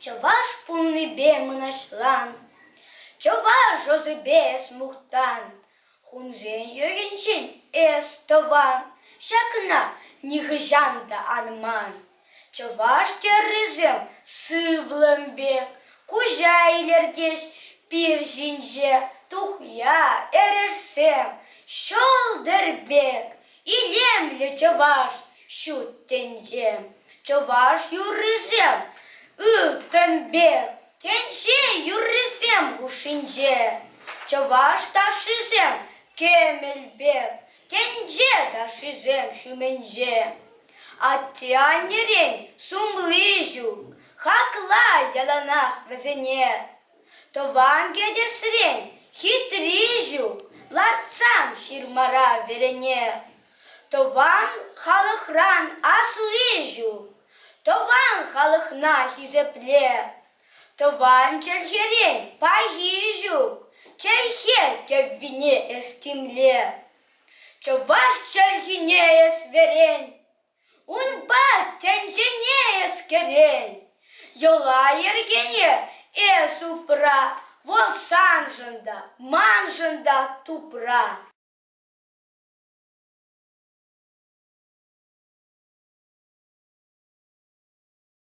Чӑваш пулнипе мӑнаҫлан, Чӑваш ӑсӗпе эс мухтан, Хунсен йӑхӗнчен эс тӑван, Ҫакна нихӑҫан та ан ман. Чӑваш тӗррисем сывлӑм пек куҫа илӗртӗҫ, пир ҫинче тухья эрешсем ҫӑлтӑр пек илемлӗ чӑваш ҫут тӗнче. Чӑваш юррисем ылтӑн пек тӗнче юррисем хушшинче. Чӑваш ташшисем кӗмӗл пек Тӗнче ташшисем ҫумӗнче атте-аннерен сумли ҫук. Хакла яланах вӗсене. Тӑван кӗтесрен хитри ҫук. Лартсам ҫырмара верене. Тӑван халӑхран асли ҫук. Тӑван халӑхна хисепле. Тӑван чӗлхерен пахи ҫук, чӗлхе кӗввине эс тимле. Чӑваш чӗлхине эс вӗрен, унпа тӗнчене эс кӗрен. Йӑла-йӗркене эс упра, вӑл саншӑн та, маншӑн та тупра.